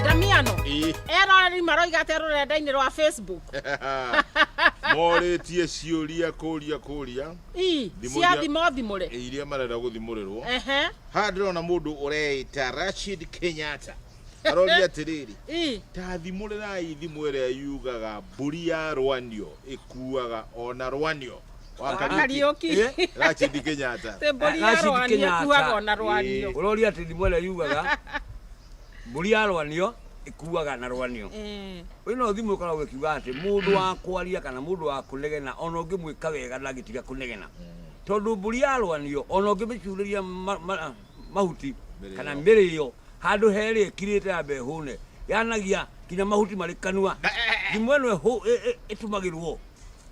ndamiano eroreri maroiga atĩa rũrenda-inĩ rwa facebook morĩtie ciũria kũria kũria Ii, Thimũ cia iria- thimo thimũre iria marenda gũthimũrĩrwo Ehe, haha ndĩrona mũndũ ũreita rashid kenyatta aroria atĩrĩrĩ ii, tathimũrĩrai thimũ ĩrĩa yugaga mbũri ya rwanio ĩkuaga ona rwanio wa Kariuki. Eh, Rachid Kenyatta. Te mbũri ya Rashid rwani Kenyatta. ĩkuaga ona rwanio. Eh. Ũroria atĩ thimo ĩrĩa yugaga mbũri ya rwanio ĩkuaga na rwanio. Eh, Ũyũ no thimũ ĩkoragwo ĩkiuga atĩ mũndũ wa kwaria kana mũndũ wa kũnegena ona ũngĩmwĩka wega ndangĩtiga kũnegena. Tondũ mbũri ya rwanio ona ũngĩmĩcurĩria ma- ma- mahuti Mĩrĩo. kana mĩrĩo handũ herĩ ĩkirĩte ya mbe hũne yanagia nginya mahuti marĩ kanua. Thimũ ĩno ĩhũ- ĩ- ĩ- ĩtumagĩrwo